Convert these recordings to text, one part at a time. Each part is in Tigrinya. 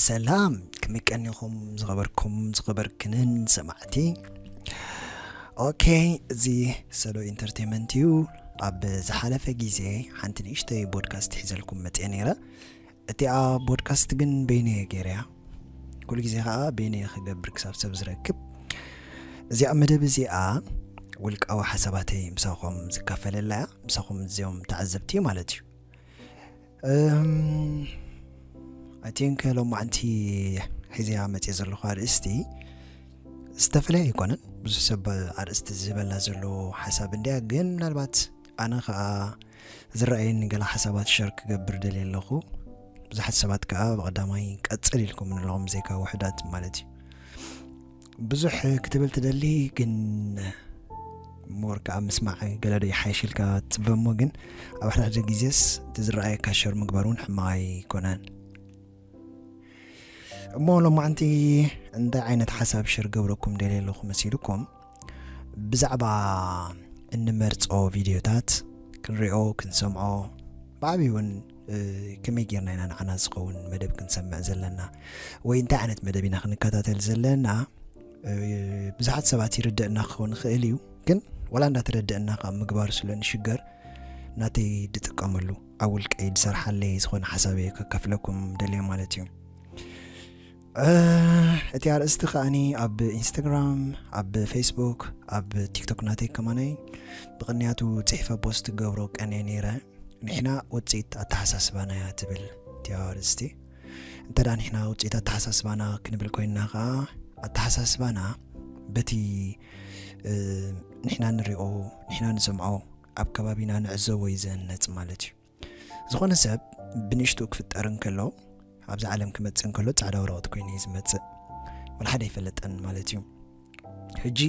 ሰላም ክምቀኒኹም ዝኸበርኩም ዝኸበርክንን ሰማዕቲ ኦኬ እዚ ሰሎ ኢንተርቴንመንት እዩ ኣብ ዝሓለፈ ግዜ ሓንቲ ንእሽተይ ቦድካስት ሒዘልኩም መፅአ ነይረ እቲኣ ቦድካስት ግን በይነይ እየ ገይረያ ኩሉ ግዜ ከዓ በይነይ እየ ክገብር ክሳብ ሰብ ዝረክብ እዚኣ መደብ እዚኣ ውልቃዊ ሓሳባተይ ምሳኹም ዝካፈለላ እያ ምሳኹም እዚኦም ተዓዘብቲ እዩ ማለት እዩ ኣይ ቲንክ ሎማዓንቲ ሒዘያ መፅእ ዘለኹ ኣርእስቲ ዝተፈላለየ ኣይኮነን ብዙሕ ሰብ ኣርእስቲ ዝበላ ዘሎ ሓሳብ እንድያ ግን ምናልባት ኣነ ከኣ ዝረኣየኒ ገለ ሓሳባት ሸር ክገብር ደልየ ኣለኹ ብዙሓት ሰባት ከኣ ብቐዳማይ ቀጽል ኢልኩም ንለኹም ብዘይካ ውሕዳት ማለት እዩ ብዙሕ ክትብል ትደሊ ግን ሞር ከዓ ምስማዕ ገለዶ ይሓይሽ ኢልካ ትፅበ እሞ ግን ኣብ ሓደ ሓደ ግዜስ እቲ ዝረኣየካ ሸር ምግባር እውን ሕማቕ ኣይኮነን እሞ ሎማዓንቲ እንታይ ዓይነት ሓሳብ ሽር ገብረኩም ደልየ ኣለኹ መሲልኩም ብዛዕባ እንመርጾ ቪድዮታት ክንሪኦ ክንሰምዖ ብዓብዪ እውን ከመይ ጌርና ኢና ንዓና ዝኸውን መደብ ክንሰምዕ ዘለና ወይ እንታይ ዓይነት መደብ ኢና ክንከታተል ዘለና ብዙሓት ሰባት ይርድእና ክኸውን ይኽእል እዩ ግን ዋላ እንዳተረድእና ካብ ምግባር ስለ ንሽገር ናተይ ድጥቀመሉ ኣብ ውልቀይ ዝሰርሓለይ ዝኾነ ሓሳብ እየ ከከፍለኩም ደልየ ማለት እዩ እቲ ኣርእስቲ ከኣኒ ኣብ ኢንስታግራም ኣብ ፌስቡክ ኣብ ቲክቶክ ናተይ ከማነይ ብቕንያቱ ፅሒፈ ፖስት ገብሮ ቀንየ ነይረ ንሕና ውፅኢት ኣተሓሳስባና እያ ትብል እቲኣ ኣርእስቲ እንተ ደኣ ንሕና ውፅኢት ኣተሓሳስባና ክንብል ኮይንና ከዓ ኣተሓሳስባና በቲ ንሕና ንሪኦ ንሕና ንሰምዖ ኣብ ከባቢና ንዕዘቦ እዩ ዝህነፅ ማለት እዩ ዝኾነ ሰብ ብንእሽትኡ ክፍጠር እንከሎ ኣብዚ ዓለም ክመጽእ እንከሎ ጻዕዳ ወረቐት ኮይኑ እዩ ዝመጽእ ወላ ሓደ ኣይፈለጠን ማለት እዩ ሕጂ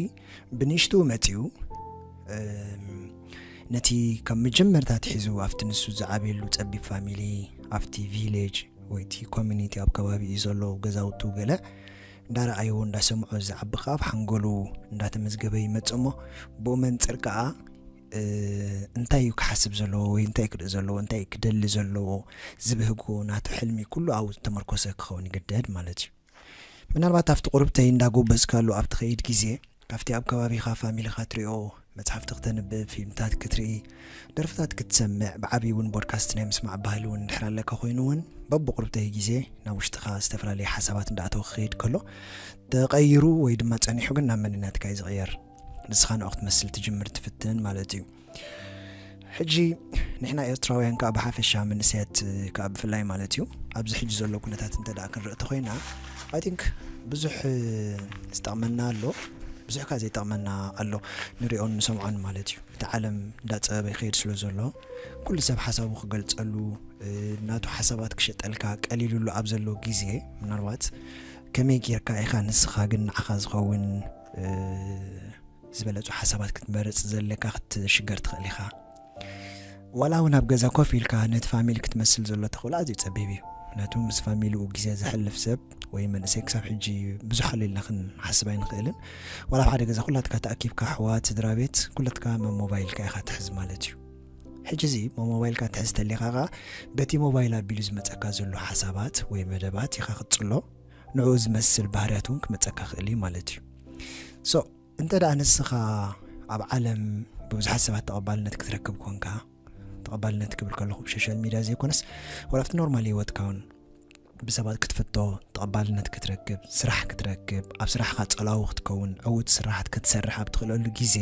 ብንእሽትኡ መጺኡ ነቲ ካብ መጀመርታ ትሒዙ ኣብቲ ንሱ ዝዓብየሉ ጸቢብ ፋሚሊ ኣብቲ ቪሌጅ ወይ እቲ ኮሚኒቲ ኣብ ከባቢ እዩ ዘሎ ገዛውቱ ገለ እንዳረኣይዎ እንዳሰምዖ ዝዓቢ ከዓ ኣብ ሓንጎሉ እንዳተመዝገበ ይመጽእ እሞ ብኡ መንፅር ከዓ እንታይ እዩ ክሓስብ ዘለዎ ወይ እንታይ ክርኢ ዘለዎ እንታይ ክደሊ ዘለዎ ዝብህጎ ናቱ ሕልሚ ኩሉ ኣብኡ ዝተመርኮሰ ክኸውን ይግደድ ማለት እዩ ምናልባት ኣብቲ ቁርብተይ እንዳጎበዝካሉ ኣብ ትኸይድ ግዜ ካብቲ ኣብ ከባቢኻ ፋሚሊኻ ትሪኦ መፅሓፍቲ ክተንብብ ፊልምታት ክትርኢ ደርፍታት ክትሰምዕ ብዓብዪ እውን ቦድካስት ናይ ምስማዕ ባህሊ እውን እንድሕር ኣለካ ኮይኑ እውን በብቁርብተይ ግዜ ናብ ውሽጥኻ ዝተፈላለዩ ሓሳባት እንዳእተው ክኸይድ ከሎ ተቐይሩ ወይ ድማ ፀኒሑ ግን ናብ መንነትካ እዩ ዝቕየር ንስኻ ንዑ ክትመስል ትጅምር ትፍትንን ማለት እዩ ሕጂ ንሕና ኤርትራውያን ከዓ ብሓፈሻ መንእሰያት ከዓ ብፍላይ ማለት እዩ ኣብዚ ሕጂ ዘሎ ኩነታት እንተ ክንርኢ ተኮይና ኣይ ቲንክ ብዙሕ ዝጠቕመና ኣሎ ብዙሕ ከዓ ዘይጠቕመና ኣሎ ንሪኦን ንሰምዖን ማለት እዩ እቲ ዓለም እንዳፀበበ ይኸይድ ስለ ዘሎ ኩሉ ሰብ ሓሳቡ ክገልፀሉ ናቱ ሓሳባት ክሸጠልካ ቀሊሉሉ ኣብ ዘሎ ግዜ ምናልባት ከመይ ጌርካ ኢኻ ንስኻ ግን ንዓኻ ዝኸውን ዝበለጹ ሓሳባት ክትመርጽ ዘለካ ክትሽገር ትኽእል ኢኻ ዋላ እውን ኣብ ገዛ ኮፍ ኢልካ ነቲ ፋሚሊ ክትመስል ዘሎ ተኽእሎ ኣዝዩ ጸቢብ እዩ ምክንያቱ ምስ ፋሚሊኡ ግዜ ዘሕልፍ ሰብ ወይ መንእሰይ ክሳብ ሕጂ ብዙሕ ኣሎ ኢልና ክንሓስብ ኣይንኽእልን ዋላ ኣብ ሓደ ገዛ ኩላትካ ተኣኪብካ ኣሕዋት ስድራ ቤት ኩለትካ መሞባይልካ ኢኻ ትሕዝ ማለት እዩ ሕጂ እዚ መሞባይልካ ትሕዝ ተሊኻ ኸዓ በቲ ሞባይል ኣቢሉ ዝመፀካ ዘሎ ሓሳባት ወይ መደባት ኢኻ ክትፅሎ ንዕኡ ዝመስል ባህርያት እውን ክመጸካ ክእል እዩ ማለት እዩ so እንተ ደኣ ንስኻ ኣብ ዓለም ብብዙሓት ሰባት ተቐባልነት ክትረክብ ኮንካ ተቐባልነት ክብል ከለኹ ብሶሻል ሚድያ ዘይኮነስ ወላብቲ ኖርማል ሂወትካ እውን ብሰባት ክትፍቶ ተቐባልነት ክትረክብ ስራሕ ክትረክብ ኣብ ስራሕካ ጸላዊ ክትከውን ዕውት ስራሓት ክትሰርሕ ኣብ ትኽእለሉ ግዜ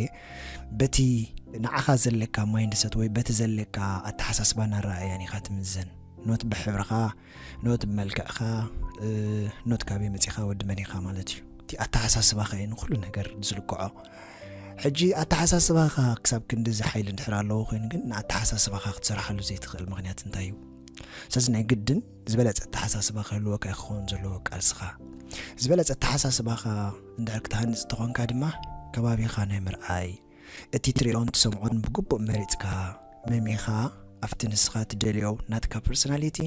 በቲ ንዓኻ ዘለካ ማይንድሰት ወይ በቲ ዘለካ ኣተሓሳስባን ኣረኣእያን ኢኻ ትምዘን ኖት ብሕብርኻ ኖት ብመልክዕካ ኖት ካበይ መጺኻ ወዲ መን ኢኻ ማለት እዩ እቲ ኣተሓሳስባኻ እዩ ንኩሉ ነገር ዝልክዖ ሕጂ ኣተሓሳስባኻ ክሳብ ክንዲ እዚ ሓይሊ እንድሕር ኣለዎ ኮይኑ ግን ንኣተሓሳስባኻ ክትሰርሓሉ ዘይትኽእል ምክንያት እንታይ እዩ ስለዚ ናይ ግድን ዝበለፀ ኣተሓሳስባ ክህልወካ ክኸውን ዘለዎ ቃልስኻ ዝበለፀ ኣተሓሳስባኻ እንድሕር ክትሃንፅ ተኾንካ ድማ ከባቢኻ ናይ ምርኣይ እቲ ትሪኦን ትሰምዖን ብግቡእ መሪጽካ መሚኻ ኣብቲ ንስኻ ትደልዮ ናትካ ፐርሶናሊቲ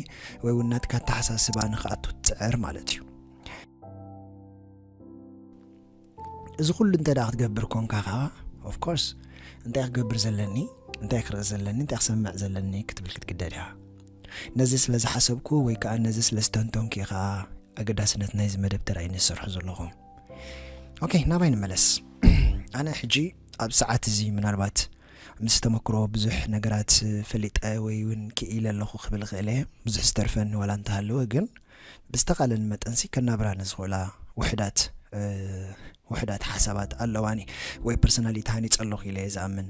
ወይ እውን ናትካ ኣተሓሳስባ ንክኣቱ ትጽዕር ማለት እዩ እዚ ኩሉ እንተ ክትገብር ኮንካ ከዓ ኦፍኮርስ እንታይ ክገብር ዘለኒ እንታይ ክርኢ ዘለኒ እንታይ ክሰምዕ ዘለኒ ክትብል ክትግደድ እያ ነዚ ስለ ዝሓሰብኩ ወይ ከዓ ነዚ ስለ ዝተንተንኩ ኢኻ ኣገዳስነት ናይዚ መደብ ተራእዩ ዝሰርሑ ዘለኹም ኦኬ ናባይ ንመለስ ኣነ ሕጂ ኣብ ሰዓት እዚ ምናልባት ምስ ተመክሮ ብዙሕ ነገራት ፈሊጠ ወይ እውን ክኢለ ኣለኹ ክብል ክእል እየ ብዙሕ ዝተርፈኒ ዋላ እንተሃለወ ግን ብዝተቃለኒ መጠንሲ ከናብራ ንዝኽእላ ውሕዳት ውሕዳት ሓሳባት ኣለዋኒ ወይ ፐርሶናሊቲ ሃኒፀ ኣለኹ ኢለ እየ ዝኣምን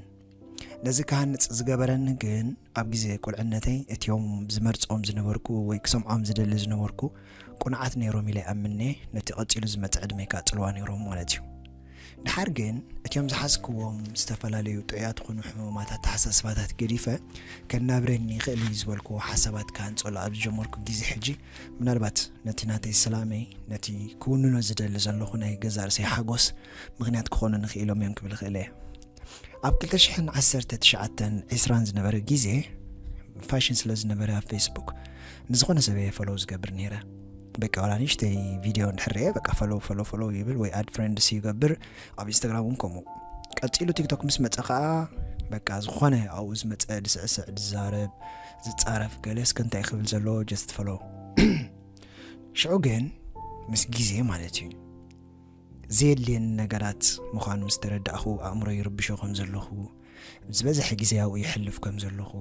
ነዚ ክሃንፅ ዝገበረኒ ግን ኣብ ግዜ ቁልዕነተይ እቲዮም ዝመርጾም ዝነበርኩ ወይ ክሰምዖም ዝደሊ ዝነበርኩ ቁኑዓት ነይሮም ኢለ ኣምኔ ነቲ ቀጺሉ ዝመጽእ ዕድመይ ከኣ ጽልዋ ነይሮም ማለት እዩ። ድሓር ግን እቲዮም ዝሓዝክዎም ዝተፈላለዩ ጥዑያት ኹኑ ሕሙማት ኣተሓሳስባታት ገዲፈ ከናብረኒ ይኽእል እዩ ዝበልክዎ ሓሳባት ክሃንጸሉ ኣብ ዝጀመርኩ ግዜ ሕጂ ምናልባት ነቲ ናተይ ሰላመይ ነቲ ክውንኖ ዝደሊ ዘለኹ ናይ ገዛእ ርእሰይ ሓጎስ ምኽንያት ክኾኑኒ ክኢሎም እዮም ክብል እኽእል እየ። ኣብ ክልተ ሽሕን ዓሰርተ ትሽዓተን ዒስራን ዝነበረ ግዜ ፋሽን ስለ ዝነበረ ኣብ ፌስቡክ ንዝኾነ ሰብ እየ ፈሎው ዝገብር ነይረ በቃ ዋላ ንእሽተይ ቪድዮ እንድሕር እየ በቃ ፈሎው ፈሎው ፈሎው ይብል ወይ ኣድ ፍሬንድስ ይገብር ኣብ ኢንስታግራም እውን ከምኡ ቀፂሉ ቲክቶክ ምስ መፀ ከዓ በቃ ዝኾነ ኣብኡ ዝመፀ ዝስዕስዕ ዝዛረብ ዝፃረፍ ገለ እስከ እንታይ ክብል ዘለዎ ጀስት ፈሎው ሽዑ ግን ምስ ግዜ ማለት እዩ ዘየድልየኒ ነገራት ምዃኑ ምስ ተረዳእኹ ኣእምሮይ ይርብሾ ከም ዘለኹ፣ ዝበዝሐ ግዜ ኣብኡ የሕልፍ ከም ዘለኹ፣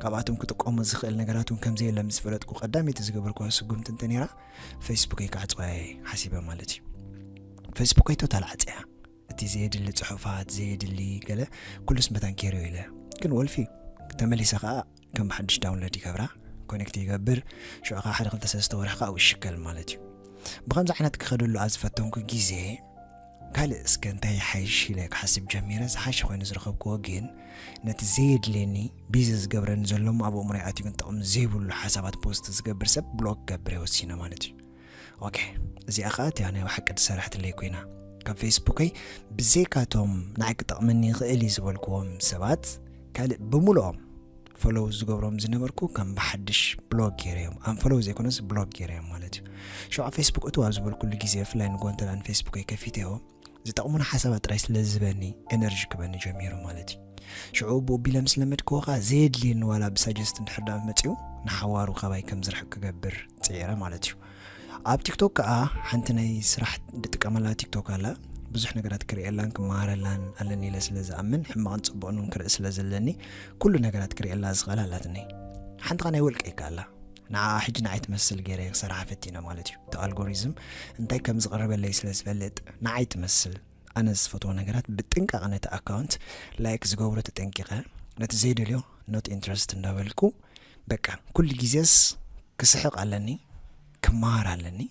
ካብኣቶም ክጥቀሞ ዝኽእል ነገራት እውን ከም ዘየለ ምስ ፈለጥኩ ቀዳመይቲ ዝገበርክዋ ስጉምቲ እንተ ነይራ ፌስቡከይ ክዓጽዋ እየ ሓሲበ ማለት እዩ። ፌስቡከይ ቶታል ዓጽያ እቲ ዘየድሊ ጽሑፋት ዘየድሊ ገለ ኩሉስ መታን ኬርዮ ኢለ ግን ወልፊ ተመሊሰ ከኣ ከም ብሓድሽ ዳውንሎድ ይገብራ ኮኔክት ይገብር ሽዑ ከዓ ሓደ ክልተ ሰለስተ ወርሒ ከዓ ይሽከል ማለት እዩ ብከምዚ ዓይነት ክኸደሉ ኣብ ዝፈተንኩ ግዜ ካልእ እስከ እንታይ ይሓይሽ ኢለ ክሓስብ ጀሚረ ዝሓሸ ኮይኑ ዝረኸብክዎ ግን ነቲ ዘየድልየኒ ቢዚ ዝገብረኒ ዘሎ እሞ ኣብ ኣእምሮ ይኣትዩ ግን ጥቕሚ ዘይብሉ ሓሳባት ፖስት ዝገብር ሰብ ብሎክ ገብረ ወሲነ ማለት እዩ ኦኬ እዚኣ ከዓ እቲያ ናይ ብሓቂ ትሰርሐትለይ ኮይና ካብ ፌስቡከይ ብዘይካቶም ንዓይ ክጠቕመኒ ይኽእል እዩ ዝበልክዎም ሰባት ካልእ ብምልኦም ፈሎው ዝገብሮም ዝነበርኩ ከም ብሓድሽ ብሎግ ገይረ እዮም ኣም ፈሎው ዘይኮነስ ብሎግ ገይረ እዮም ማለት እዩ ሸውዓ ፌስቡክ እቱ ኣብ ዝበልኩሉ ግዜ ብፍላይ ንጎንተላን ፌስቡክ ከፊተዮ ዝጠቕሙና ሓሳባት ጥራይ ስለ ዝህበኒ ኤነርጂ ክበኒ ጀሚሩ ማለት እዩ ሽዑ ቦቢለ ምስ ለመድክዎ ከዓ ዘየድልየኒ ዋላ ብሳጀስት እንድሕር ዳኣ መፅኡ ንሓዋሩ ካባይ ከም ዝርሕቅ ክገብር ፅዒረ ማለት እዩ ኣብ ቲክቶክ ከዓ ሓንቲ ናይ ስራሕ ድጥቀመላ ቲክቶክ ኣላ ብዙሕ ነገራት ክርእየላን ክመሃረላን ኣለኒ ኢለ ስለ ዝኣምን ሕማቕን ፅቡቕን እውን ክርኢ ስለ ዘለኒ ኩሉ ነገራት ክርእየላ ዝኽእል ኣላትኒ ሓንቲ ኸ ናይ ውልቀ ይከኣላ ንዓኣ ሕጂ ንዓይ ትመስል ገይረ ክሰርሓ ፈቲነ ማለት እዩ እቲ ኣልጎሪዝም እንታይ ከም ዝቕርበለይ ስለ ዝፈልጥ ንዓይ ትመስል ኣነ ዝፈትዎ ነገራት ብጥንቃቐ ነቲ ኣካውንት ላይክ ዝገብሮ ተጠንቂቐ ነቲ ዘይደልዮ ኖት ኢንትረስት እንዳበልኩ በቃ ኩሉ ግዜስ ክስሕቕ ኣለኒ ክመሃር ኣለኒ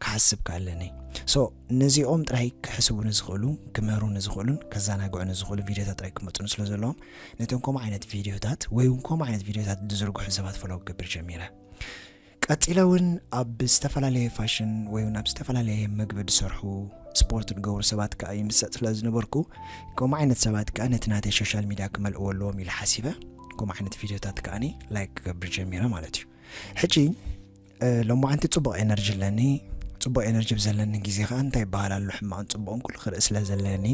ክሓስብ ክኣለኒ so ነዚኦም ጥራይ ክሕስቡ ንዝኽእሉ ክምህሩ ንዝኽእሉን ከዘናግዑ ንዝኽእሉ ቪድዮታት ጥራይ ክመጹኒ ስለ ዘለዎም ነቶም ከምኡ ዓይነት ቪድዮታት ወይ እውን ከምኡ ዓይነት ቪድዮታት ዝዝርግሑ ሰባት ፈለው ክገብር ጀሚረ ቀጺለ እውን ኣብ ዝተፈላለየ ፋሽን ወይ እውን ኣብ ዝተፈላለየ መግቢ ዝሰርሑ ስፖርት ዝገብሩ ሰባት ከዓ ይምሰጥ ስለ ዝነበርኩ ከምኡ ዓይነት ሰባት ከዓ ነቲ ናተይ ሶሻል ሚድያ ክመልእዎ ኣለዎም ኢለ ሓሲበ ከምኡ ዓይነት ቪድዮታት ከዓኒ ላይክ ክገብር ጀሚረ ማለት እዩ ሕጂ ሎማዓንቲ ጽቡቕ ኤነርጂ ኣለኒ ጽቡቕ ኤነርጂ ብዘለኒ ግዜ ከኣ እንታይ ይበሃል ኣሎ ሕማቕን ጽቡቕን ኩሉ ክርኢ ስለ ዘለኒ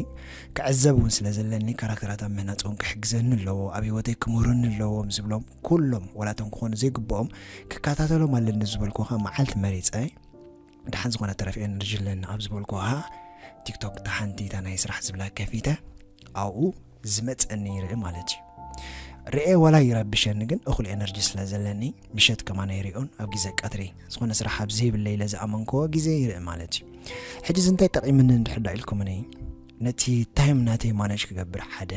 ክዕዘብ እውን ስለ ዘለኒ ካራክተራት ኣብ ምህናጽ እውን ክሕግዘኒ ኣለዎ ኣብ ህይወተይ ክምህሩኒ ኣለዎ ምስ ዝብሎም ኩሎም ወላቶም ክኾኑ ዘይግብኦም ክከታተሎም ኣለኒ ዝበልኩ ከ መዓልቲ መሪፀ ድሓን ዝኾነ ተረፍ ኤነርጂ ኣለኒ ኣብ ዝበልኩ ከ ቲክቶክ ተሓንቲ እታ ናይ ስራሕ ዝብላ ከፊተ ኣብኡ ዝመጸ ነይረ ማለት እዩ ርኤ ዋላ ይረብሸኒ ግን እኹል ኤነርጂ ስለ ዘለኒ ምሸት ከማን ኣይሪኦን ኣብ ግዜ ቀትሪ ዝኾነ ስራሕ ኣብ ዘይብለ ኢለ ዝኣመንክዎ ግዜ ይርኢ ማለት እዩ ሕጂ እዚ እንታይ ጠቂምኒ እንድሕዳ ኢልኩምኒ ነቲ ታይም ናተይ ማነጅ ክገብር ሓደ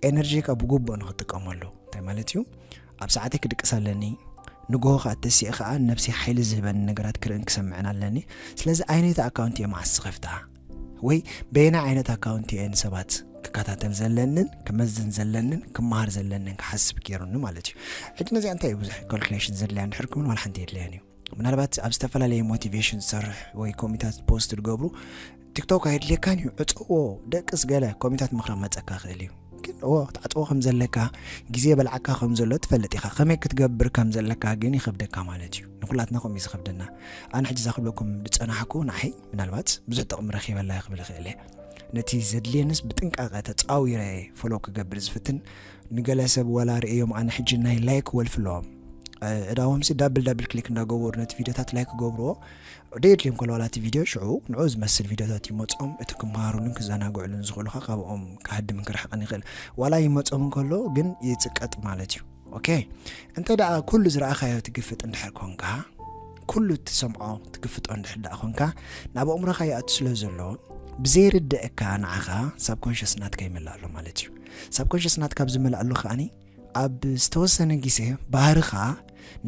ኤነርጂካ ብግቡእ ንክጥቀመሉ እንታይ ማለት እዩ ኣብ ሰዓተይ ክድቅስ ኣለኒ ንግሆ ከዓ ተሲእ ከዓ ነብሲ ሓይሊ ዝህበኒ ነገራት ክርእን ክሰምዕን ኣለኒ ስለዚ ኣይነይቲ ኣካውንቲ እየ መዓስ ዝኸፍታ ወይ በየናይ ዓይነት ኣካውንቲ እየ ንሰባት ክከታተል ዘለንን ክመዝን ዘለንን ክመሃር ዘለንን ክሓስብ ገይሩኒ ማለት እዩ ሕጂ ነዚኣ እንታይ እዩ ብዙሕ ካልኩሌሽን ዘድልያ እንድሕር ክብል ዋላ ሓንቲ የድልያን እዩ ምናልባት ኣብ ዝተፈላለየ ሞቲቬሽን ዝሰርሕ ወይ ኮሚታት ፖስት ዝገብሩ ቲክቶክ ኣየድልየካን እዩ ዕፀዎ ደቅስ ገለ ኮሚታት ምክራ መፀካ ክእል እዩ ግን እዎ ትዓፅዎ ከም ዘለካ ግዜ በልዓካ ከም ዘሎ ትፈልጥ ኢኻ ከመይ ክትገብር ከም ዘለካ ግን ይኸብደካ ማለት እዩ ንኩላትና ከምኡ እዩ ዝኸብደና ኣነ ሕጂ እዛ ክብለኩም ዝፀናሕኩ ንዓይ ምናልባት ብዙሕ ጥቕሚ ረኺበላ ክብል ይኽእል እየ ነቲ ዘድልየንስ ብጥንቃቐ ተፃዊረ ፎሎ ክገብር ዝፍትን ንገለ ሰብ ወላ ርእዮም ኣነ ሕጂ ናይ ላይክ ወልፍ ኣለዎም ዕዳዎምሲ ዳብል ዳብል ክሊክ እንዳገበሩ ነቲ ቪድዮታት ላይክ ክገብርዎ ደየድልዮም ከለዋላ እቲ ቪድዮ ሽዑ ንዑ ዝመስል ቪድዮታት ይመፆም እቲ ክምሃሩሉን ክዘናግዕሉን ዝኽእሉካ ካብኦም ክሃድምን ክርሕቕን ይኽእል ዋላ ይመፆም እንከሎ ግን ይፅቀጥ ማለት እዩ ኦኬ እንተ ደኣ ኩሉ ዝረኣኻዮ ትግፍጥ እንድሕር ኮንካ ኩሉ እትሰምዖ ትግፍጦ እንድሕር ደኣ ኮንካ ናብ ኣእምሮኻ ይኣቱ ስለ ዘሎ ብዘይርድእካ ንዓኻ ሳብ ኮንሽስ ናትካ ይመልእ ኣሎ ማለት እዩ ሳብ ኮንሽስ ናትካ ኣብ ዝመልኣሉ ከዓኒ ኣብ ዝተወሰነ ግዜ ባህርኻ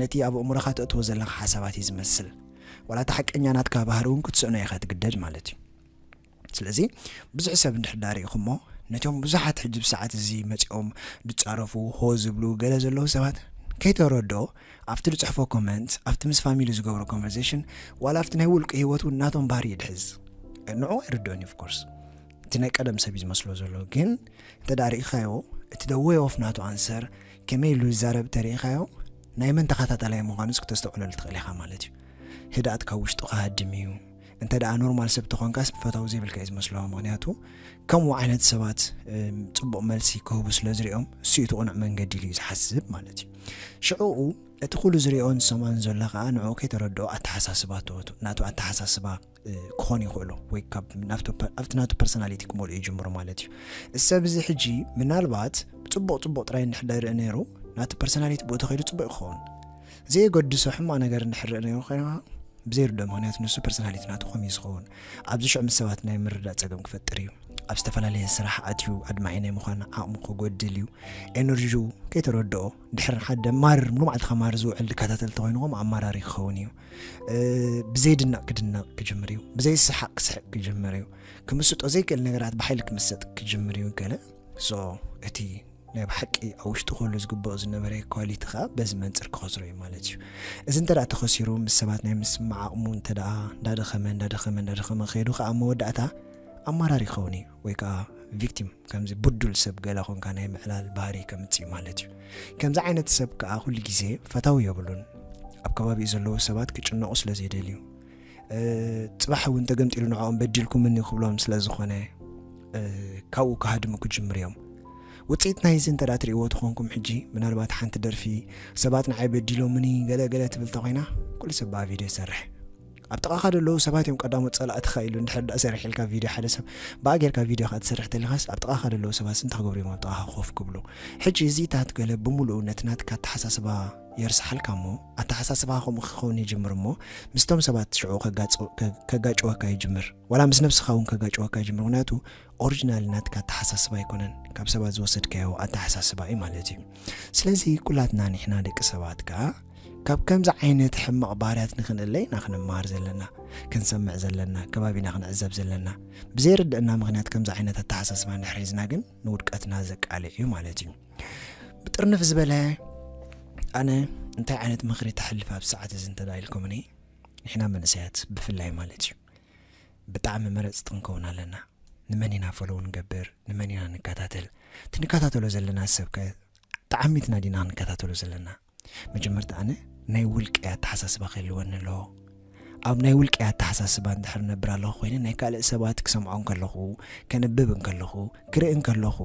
ነቲ ኣብ ኣእምሮኻ ተእትዎ ዘለኻ ሓሳባት እዩ ዝመስል ዋላ እቲ ሓቀኛ ናትካ ባህሪ እውን ክትስእኖ ኢኻ ትግደድ ማለት እዩ ስለዚ ብዙሕ ሰብ እንድሕር ዳኣ ሪኢኹሞ ነቶም ብዙሓት ሕጂ ብሰዓት እዚ መጺኦም ድጻረፉ ሆ ዝብሉ ገለ ዘለዉ ሰባት ከይተረድኦ ኣብቲ ድጽሕፎ ኮመንት ኣብቲ ምስ ፋሚሊ ዝገብሮ ኮንቨርሴሽን ዋላ ኣብቲ ናይ ውልቂ ሂወት እውን ናቶም ባህሪ ይድሕዝ ንዑ ኣይርድኦን እዩ ኦፍኮርስ እቲ ናይ ቀደም ሰብ እዩ ዝመስሎ ዘሎ ግን እንተ ዳኣ ሪኢኻዮ እቲ ደወይ ኦፍ ናቱ ኣንሰር ከመይ ኢሉ ዝዛረብ ተርእኻዮ ናይ መን ተኸታታላይ ምዃኑስ ክተስተውዕለሉ ትኽእል ኢኻ ማለት እዩ ህድኣት ካብ ውሽጡ ክሃድም እዩ እንተ ደኣ ኖርማል ሰብ ተኾንካስ ፈታዊ ዘይብልካ እዩ ዝመስሎ ምክንያቱ ከምኡ ዓይነት ሰባት ፅቡቕ መልሲ ክህቡ ስለ ዝሪኦም እሱ እቲ ቁኑዕ መንገዲ ኢሉ እዩ ዝሓስብ ማለት እዩ ሽዕኡ እቲ ኩሉ ዝሪኦን ዝሰምዖን ዘሎ ከዓ ንዕኡ ከይተረድኦ ኣተሓሳስባ ተወቱ ናቱ ኣተሓሳስባ ክኾኑ ይኽእሉ ወይ ኣብቲ ናቱ ፐርሶናሊቲ ክመልኡ ይጅምሩ ማለት እዩ እሰብ እዚ ሕጂ ምናልባት ፅቡቕ ፅቡቕ ጥራይ እንድሕደርኢ ነይሩ ናቲ ፐርሶናሊቲ ብኡ ተኸይዱ ፅቡቅ ይኸውን ዘየገድሶ ሕማቕ ነገር እንድሕር ርእናዮ ኮይና ብዘይርድኦ ምክንያት ንሱ ፐርሶናሊቲ ናቱ ከምዩ ዝኸውን ኣብዚ ሽዑ ምስ ሰባት ናይ ምርዳእ ጸገም ክፈጥር እዩ ኣብ ዝተፈላለየ ስራሕ ኣትዩ ኣድማዒ ናይ ምዃን ዓቕሙ ክጎድል እዩ ኤነርጂኡ ከይተረድኦ ድሕር ሓደ ማር ሙሉ መዓልትኻ ማር ዝውዕል ዝከታተል ተኮይኑ ከምኡ ኣማራሪ ክኸውን እዩ ብዘይድነቕ ክድነቕ ክጅምር እዩ ብዘይ ስሓቅ ክስሕቅ ክጅምር እዩ ክምስጦ ዘይክእል ነገራት ብሓይሊ ክምሰጥ ክጅምር እዩ ገለ ሶ እቲ ናይ ብሓቂ ኣብ ውሽጡ ክህሉ ዝግበኦ ዝነበረ ኳሊቲ ከኣ በዚ መንጽር ክኸስሮ እዩ ማለት እዩ። እዚ እንተ ተኸሲሩ ምስ ሰባት ናይ ምስምማዕ ዓቕሙ እንተ እንዳደኸመ እንዳደኸመ እንዳደኸመ ከይዱ ከኣ ኣብ መወዳእታ ኣማራሪ ክኸውን እዩ ወይ ከኣ ቪክቲም ከምዚ ብዱል ሰብ ገለ ኮንካ ናይ ምዕላል ባህሪ ከምጽእ እዩ ማለት እዩ። ከምዚ ዓይነት ሰብ ከኣ ኩሉ ግዜ ፈታዊ የብሉን ኣብ ከባቢኡ ዘለዉ ሰባት ክጭነቑ ስለ ዘይደልዩ ጽባሕ እውን ተገምጢሉ ንዕኦም በዲልኩምኒ ክብሎም ስለ ዝኾነ ካብኡ ክሃድሙ ክጅምር እዮም ውፅኢት ናይ እዚ እንተ ትርእይዎ ትኾንኩም ሕጂ ምናልባት ሓንቲ ደርፊ ሰባት ንዓይ በዲሎምኒ ገለገለ ትብል ተኮይና ኩሉ ሰብ ብኣ ቪድዮ ይሰርሕ ኣብ ጥቓኻ ዘለዉ ሰባት እዮም ቀዳሞት ጸላእትኻ ኢሉ እንድሕር ዳ ሰርሕ ኢልካ ቪድዮ ሓደ ሰብ ብኣ ጌርካ ቪድዮ ካ ትሰርሕ ተሊኻስ ኣብ ጥቓኻ ዘለዉ ሰባት ስንታ ክገብሩ እዮም ኣብ ጥቓኻ ኮፍ ክብሉ ሕጂ እዚታት ገለ ብምሉእነት ናትካ ኣተሓሳስባ የርስሓልካ እሞ ኣተሓሳስባኻ ከምኡ ክኸውን ይጅምር እሞ ምስቶም ሰባት ሽዑ ከጋጭወካ ይጅምር ዋላ ምስ ነብስኻ እውን ከጋጭወካ ይጅምር ምክንያቱ ኦሪጂናል ናትካ ኣተሓሳስባ ኣይኮነን ካብ ሰባት ዝወሰድካዮ ኣተሓሳስባ እዩ ማለት እዩ ስለዚ ኩላትና ንሕና ደቂ ሰባት ከዓ ካብ ከምዚ ዓይነት ሕማቕ ባህርያት ንክንእለ ኢና ክንመሃር ዘለና ክንሰምዕ ዘለና ከባቢና ክንዕዘብ ዘለና ብዘይርድእና ምክንያት ከምዚ ዓይነት ኣተሓሳስባ እንድሕር ሒዝና ግን ንውድቀትና ዘቃልዕ እዩ ማለት እዩ ብጥርንፍ ዝበለ ኣነ እንታይ ዓይነት ምኽሪ ተሕልፍ ኣብ ሰዓት እዚ እንተዳኢልኩምኒ ንሕና መንእሰያት ብፍላይ ማለት እዩ ብጣዕሚ መረፅቲ ክንከውን ኣለና ንመን ኢና ፈለዉ ንገብር ንመን ኢና ንከታተል እቲ ንከታተሎ ዘለና ሰብከ ተዓሚትና ዲና ክንከታተሎ ዘለና መጀመርታ ኣነ ናይ ውልቀይ ኣተሓሳስባ ክህልወኒ ኣለዎ ኣብ ናይ ውልቀይ ኣተሓሳስባ እንድሕር ነብር ኣለኹ ኮይነ ናይ ካልእ ሰባት ክሰምዖ እንከለኹ ከንብብ እንከለኹ ክርኢ እንከለኹ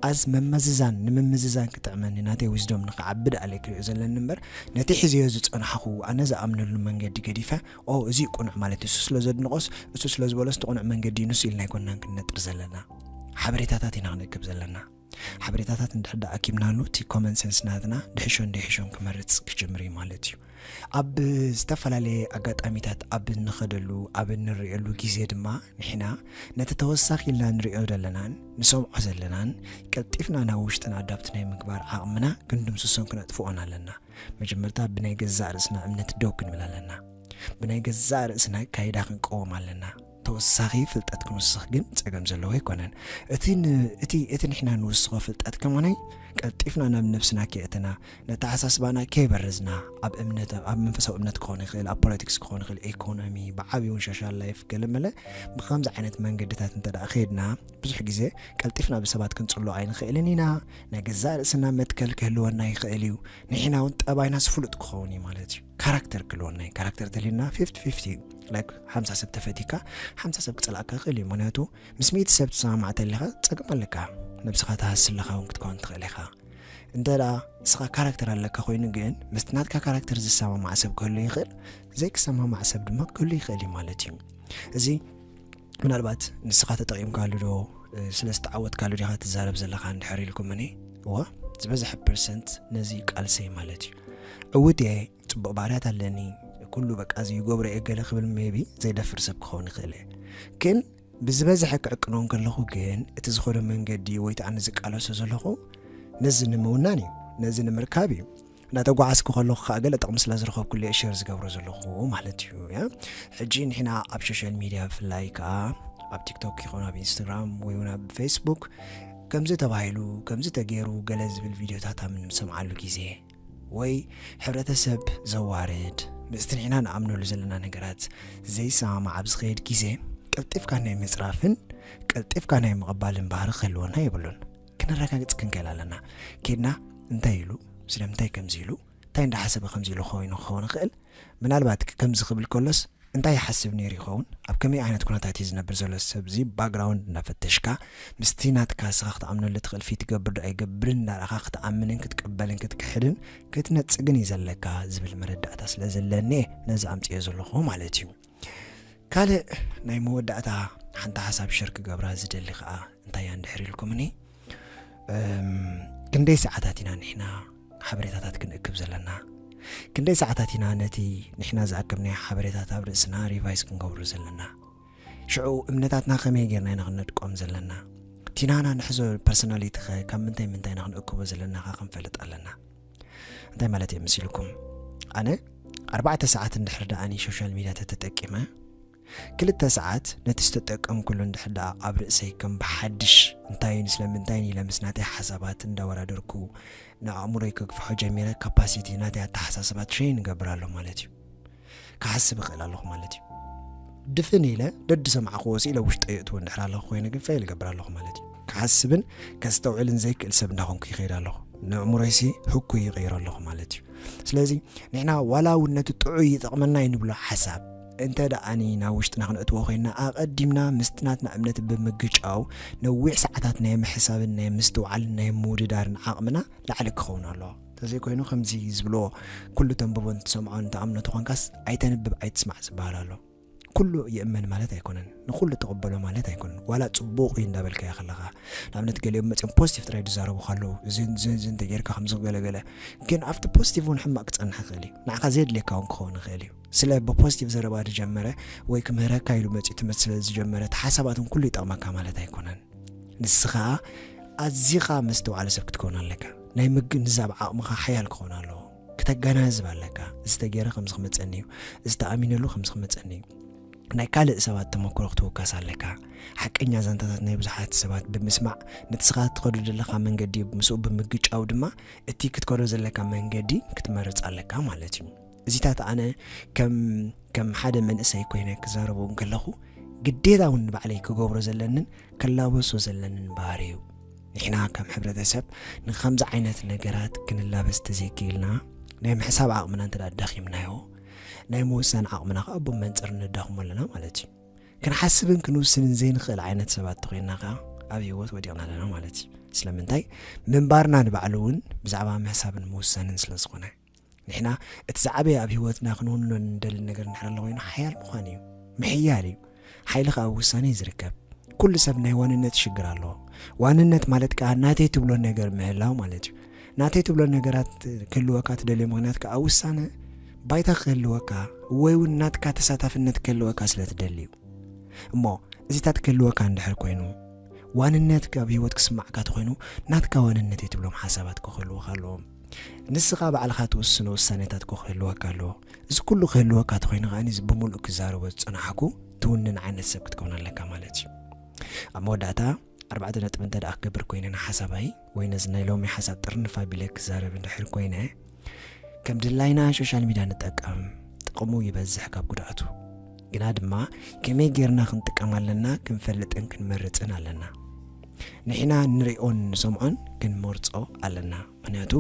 ኣዝ መመዝዛን ንምምዝዛን ክጥዕመኒ ናተይ ዊዝዶም ንክዓቢ ደኣ ለይ ክሪኦ ዘለኒ እምበር ነቲ ሕዝዮ ዝፀናሓኹ ኣነ ዝኣምነሉ መንገዲ ገዲፈ ኦ እዚ ቁኑዕ ማለት እሱ ስለ ዘድንቆስ እሱ ስለ ዝበሎስ እቲ ቁኑዕ መንገዲ ንሱ ኢልና ኣይኮናን ክንነጥር ዘለና ሓበሬታታት ኢና ክንእክብ ዘለና ሓበሬታታት እንድሕር ደኣ ኣኪብናሉ እቲ ኮመን ሰንስ ናትና ድሕሾን ደይሕሾን ክመርጽ ክጅምር እዩ ማለት እዩ ኣብ ዝተፈላለየ ኣጋጣሚታት ኣብ እንኸደሉ ኣብ እንርእየሉ ግዜ ድማ ንሕና ነቲ ተወሳኺ ኢልና ንርእዮ ዘለናን ንሰምዖ ዘለናን ቀልጢፍና ናብ ውሽጥና ኣዳብቲ ናይ ምግባር ዓቕምና ክንድምስሶን ክነጥፍኦን ኣለና መጀመርታ ብናይ ገዛእ ርእስና እምነት ደው ክንብል ኣለና ብናይ ገዛእ ርእስና ካይዳ ክንቀወም ኣለና ተወሳኺ ፍልጠት ክንውስኽ ግን ጸገም ዘለዎ ኣይኮነን። እቲ ን እቲ እቲ ንሕና ንውስኾ ፍልጠት ከማናይ ቀልጢፍና ናብ ነብስና ከየእተና ነተሓሳስባና ከይበረዝና ኣብ እምነት ኣብ መንፈሳዊ እምነት ክኾን ይኽእል ኣብ ፖለቲክስ ክኾን ይኽእል ኤኮኖሚ ብዓብዪ እውን ሶሻል ላይፍ ገለመለ ብከምዚ ዓይነት መንገድታት እንተ ደኣ ከይድና ብዙሕ ግዜ ቀልጢፍና ብሰባት ክንጽሎ ኣይንኽእልን ኢና ናይ ገዛእ ርእስና መትከል ክህልወና ይኽእል እዩ ንሕና እውን ጠባይናስ ፍሉጥ ክኸውን እዩ ማለት እዩ ካራክተር ክልወና እዩ ካራክተር ተልዩና ፊፍቲ ፊፍቲ እዩ ላይክ ሓምሳ ሰብ ተፈቲካ ሓምሳ ሰብ ክፀላእካ ይኽእል እዩ ምክንያቱ ምስ ሚእቲ ሰብ ትሰማማዕ ተለካ ፀገም ኣለካ ነብስኻ ትሃሲ ኣለካ እውን ክትከውን ትኽእል ኢኻ እንተ ደኣ ንስኻ ካራክተር ኣለካ ኮይኑ ግን ምስቲ ናትካ ካራክተር ዝሰማማዕ ሰብ ክህሉ ይኽእል ዘይክሰማማዕ ሰብ ድማ ክህሉ ይኽእል እዩ ማለት እዩ እዚ ምናልባት ንስኻ ተጠቒምካሉ ዶ ስለ ዝተዓወትካሉ ዲኻ ትዛረብ ዘለኻ እንድሕር ኢልኩምኒ እወ ዝበዝሐ ፐርሰንት ነዚ ቃልሰይ ማለት እዩ ዕውት እየ ፅቡቕ ባህርያት ኣለኒ ኩሉ በቃ እዚ ይገብሮ እየ ገለ ክብል ሜቢ ዘይደፍር ሰብ ክኸውን ይኽእል እየ ግን ብዝበዝሐ ክዕቅኖ ከለኹ ግን እቲ ዝኾነ መንገዲ ወይ ኣነ ዝቃለሶ ዘለኹ ነዚ ንምውናን እዩ ነዚ ንምርካብ እዩ እንዳተጓዓዝኩ ከለኹ ከዓ ገለ ጥቕሚ ስለ ዝረኸብኩሉ እየ ሸር ዝገብሮ ዘለኹ ማለት እዩ ያ ሕጂ ንሕና ኣብ ሶሻል ሚድያ ብፍላይ ከዓ ኣብ ቲክቶክ ይኹን ኣብ ኢንስታግራም ወይ እውን ኣብ ፌስቡክ ከምዚ ተባሂሉ ከምዚ ተገይሩ ገለ ዝብል ቪድዮታት ኣብ እንሰምዓሉ ግዜ ወይ ሕብረተሰብ ዘዋርድ ምስቲ ንሕና ንኣምነሉ ዘለና ነገራት ዘይሰማማዕ ኣብ ዝኸየድ ግዜ ቀልጢፍካ ናይ ምፅራፍን ቀልጢፍካ ናይ ምቕባልን ባህሪ ክህልወና የብሉን ክነረጋግጽ ክንክእል ኣለና ኬድና እንታይ ኢሉ ስለምንታይ ከምዚ ኢሉ እንታይ እንዳሓሰበ ከምዚ ኢሉ ኮይኑ ክኸውን ይኽእል ምናልባት ከምዚ ክብል ከሎስ እንታይ ይሓስብ ነይሩ ይኸውን ኣብ ከመይ ዓይነት ኩነታት እዩ ዝነብር ዘሎ ሰብዚ ባግራውንድ እናፈተሽካ ምስቲ ናትካ ስኻ ክትኣምነሉ ትኽእል ፊት ይገብር ዶ ኣይገብርን እንዳረኻ ክትኣምንን ክትቅበልን ክትክሕድን ክትነፅግን እዩ ዘለካ ዝብል መረዳእታ ስለ ዘለኒ ነዚ ኣምፅዮ ዘለኹ ማለት እዩ ካልእ ናይ መወዳእታ ሓንቲ ሓሳብ ሸር ክገብራ ዝደሊ ከኣ እንታይ እያ እንድሕር ኢልኩምኒ ክንደይ ሰዓታት ኢና ንሕና ሓበሬታታት ክንእክብ ዘለና ክንደይ ሰዓታት ኢና ነቲ ንሕና ዝኣከብናዮ ሓበሬታት ኣብ ርእስና ሪቫይስ ክንገብሩ ዘለና ሽዑ እምነታትና ከመይ ጌርና ኢና ክንነድቆም ዘለና ቲናና ንሕዞ ፐርሶናሊቲ ኸ ካብ ምንታይ ምንታይ ኢና ክንእክቦ ዘለናኻ ክንፈልጥ ኣለና እንታይ ማለት እየ መሲልኩም ኣነ ኣርባዕተ ሰዓት እንድሕር ደኣ ኒ ሶሻል ሚድያ ተተጠቂመ ክልተ ሰዓት ነቲ ዝተጠቀምኩሉ እንድሕር ደኣ ኣብ ርእሰይ ከም ብሓድሽ እንታይን ስለምንታይን ኢለ ምስ ናተይ ሓሳባት እንዳወዳደርኩ ንኣእምሮይ ከግፍሖ ጀሚረ ካፓሲቲ ናተይ ኣተሓሳስባ ትሸይን እገብር ኣሎ ማለት እዩ ክሓስብ እኽእል ኣለኹ ማለት እዩ። ድፍን ኢለ ደድሰማዕኽዎ ስኢለ ውሽጠይ የእትዎ እንድሕር ኣለኹ ኮይነ ግን ፈይል እገብር ኣለኹ ማለት እዩ። ክሓስብን ከስተውዕልን ዘይክእል ሰብ እንዳኾንኩ ይኸይድ ኣለኹ። ንእእምሮይሲ ህኩይ ይቕይሮ ኣለኹ ማለት እዩ። ስለዚ ንሕና ዋላ እውን ነቲ ጥዑይ ይጠቕመና እዩ ንብሎ ሓሳብ እንተ ደኣኒ ናብ ውሽጥና ክንእትዎ ኮይንና ኣቐዲምና ምስቲ ናትና እምነት ብምግጫው ነዊሕ ሰዓታት ናይ ምሕሳብን ናይ ምስትውዓልን ናይ ምውድዳርን ዓቕምና ላዕሊ ክኸውን ኣለዎ። ተዘይኮይኑ ከምዚ ዝብልዎ ኩሉ ተንብቦን ትሰምዖን ትኣምኖ ተኾንካስ ኣይተንብብ ኣይትስማዕ ዝበሃል ኣሎ ኩሉ ይእመን ማለት ኣይኮነን ንኩሉ ተቐበሎ ማለት ኣይኮነን ዋላ ፅቡቕ እዩ እንዳበልካዮ ከለኻ ንኣብነት ገሊኦም መፅኦም ፖዚቲቭ ጥራይ ዝዛረቡ ካለዉ ዝንዝንዝ እንተጌርካ ከምዚ ገለገለ ግን ኣብቲ ፖዚቲቭ እውን ሕማቅ ክፀንሕ ይኽእል እዩ ንዓኻ ዘየድልየካ እውን ክኸውን ይኽእል እዩ ስለ ብፖዚቲቭ ዘረባ ዝጀመረ ወይ ክምህረካ ኢሉ መፅኡ ትምህርቲ ስለ ዝጀመረ እቲ ሓሳባትን ኩሉ ይጠቕመካ ማለት ኣይኮነን ንስኻ ኣዚኻ መስተውዓሊ ሰብ ክትከውን ኣለካ ናይ ምግንዛብ ዓቕምኻ ሓያል ክኾን ኣለዎ። ክተጋናዝብ ኣለካ። እዚ ተገይረ ከምዚ ክመጸኒ እዩ፣ እዚ ተኣሚነሉ ከምዚ ክመጸኒ እዩ። ናይ ካልእ ሰባት ተመክሮ ክትውከስ ኣለካ። ሓቀኛ ዛንታታት ናይ ብዙሓት ሰባት ብምስማዕ ንስኻ እትኸዱ ዘለኻ መንገዲ ምስኡ ብምግጫው ድማ እቲ ክትከዶ ዘለካ መንገዲ ክትመርጽ ኣለካ ማለት እዩ። እዚታት ኣነ ከም ሓደ መንእሰይ ኮይነ ክዛረቡ እንከለኹ ግዴታ እውን ንባዕለይ ክገብሮ ዘለንን ክላበሶ ዘለንን ባህሪ እዩ ንሕና ከም ሕብረተሰብ ንኸምዚ ዓይነት ነገራት ክንላበስ ተዘይክኢልና ናይ ምሕሳብ ዓቕምና እንተ ኣዳኺምናዮ ናይ ምውሳን ዓቕምና ከዓ ብመንፅር ንዳኽሞ ኣለና ማለት እዩ ክንሓስብን ክንውስንን ዘይንኽእል ዓይነት ሰባት ተኮይንና ከዓ ኣብ ህይወት ወዲቕና ኣለና ማለት እዩ ስለምንታይ ምንባርና ንባዕሉ እውን ብዛዕባ ምሕሳብን ምውሳንን ስለ ዝኾነ ንሕና እቲ ዝዓበየ ኣብ ህይወትና ክንውንኖ እንደሊ ነገር እንድሕር ኣሎ ኮይኑ ሓያል ምዃን እዩ ምሕያል እዩ ሓይሊ ከዓ ውሳኔ ዝርከብ ኩሉ ሰብ ናይ ዋንነት ሽግር ኣለዎ ዋንነት ማለት ከዓ ናተይ ትብሎ ነገር ምህላው ማለት እዩ ናተይ ትብሎ ነገራት ክህልወካ ትደልዮ ምክንያት ከዓ ውሳነ ባይታ ክህልወካ ወይ እውን ናትካ ተሳታፍነት ክህልወካ ስለ ትደሊ እዩ እሞ እዚታት ክህልወካ እንድሕር ኮይኑ ዋንነት ካብ ህይወት ክስማዕካ ተኮይኑ ናትካ ዋንነት እዩ ትብሎም ሓሳባት ክህልወካ ኣለዎም ንስኻ ባዕልኻ ትውስኖ ውሳኔታት እኮ ክህልወካ ኣለዎ። እዚ ኩሉ ክህልወካ ተኾይኑ ከኣ እዚ ብምሉእ ክዛረቦ ዝጸናሕኩ ትውንን ዓይነት ሰብ ክትከውን ኣለካ ማለት እዩ። ኣብ መወዳእታ ኣርባዕተ ነጥቢ እንተ ደኣ ክገብር ኮይነ ንሓሳባይ ወይ ነዚ ናይ ሎሚ ሓሳብ ጥርንፍ ኣቢለ ክዛረብ እንድሕር ኮይነ ከም ድላይና ሶሻል ሚድያ ንጠቀም ጥቕሙ ይበዝሕ ካብ ጉድኣቱ ግና ድማ ከመይ ጌርና ክንጥቀም ኣለና ክንፈልጥን ክንመርጽን ኣለና። ንሕና ንሪኦን ንሰምዖን ክንመርጾ ኣለና። ምክንያቱ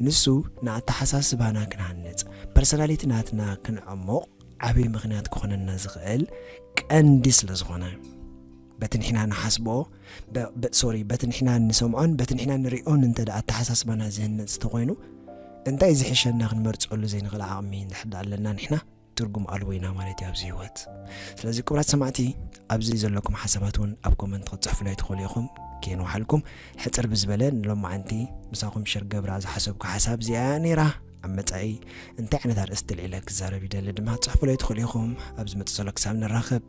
ንሱ ንኣተሓሳስባና ክንሃንጽ ፐርሰናሊቲ ናትና ክንዕሙቕ ዓብዪ ምክንያት ክኾነና ዝኽእል ቀንዲ ስለ ዝኾነ በቲ ንሕና ንሓስቦ ሶሪ በቲ ንሕና ንሰምዖን በቲ ንሕና ንሪኦን እንተ ደኣ ኣተሓሳስባና ዝህነፅ እንተኮይኑ እንታይ ዝሕሸና ክንመርፀሉ ዘይንኽእል ዓቕሚ ንሕዳ ኣለና ንሕና ትርጉም ኣልቦ ኢና ማለት እዩ ኣብዚ ህይወት ስለዚ ክብራት ሰማዕቲ ኣብዚ ዘለኩም ሓሳባት እውን ኣብ ኮመንት ክትፅሕፉላይ ትኽእሉ ኢኹም ከይንውሓልኩም ሕፅር ብዝበለ ንሎማዓንቲ ምሳኹም ሽር ገብራ ዝሓሰብኩ ሓሳብ እዚኣ ነይራ ኣብ መፃኢ እንታይ ዓይነት ኣርእስቲ ልዒለ ክዛረብ ይደሊ ድማ ፅሕፉለይ ትኽእሉ ኢኹም ኣብ ዝመፅእ ዘሎ ክሳብ ንራኸብ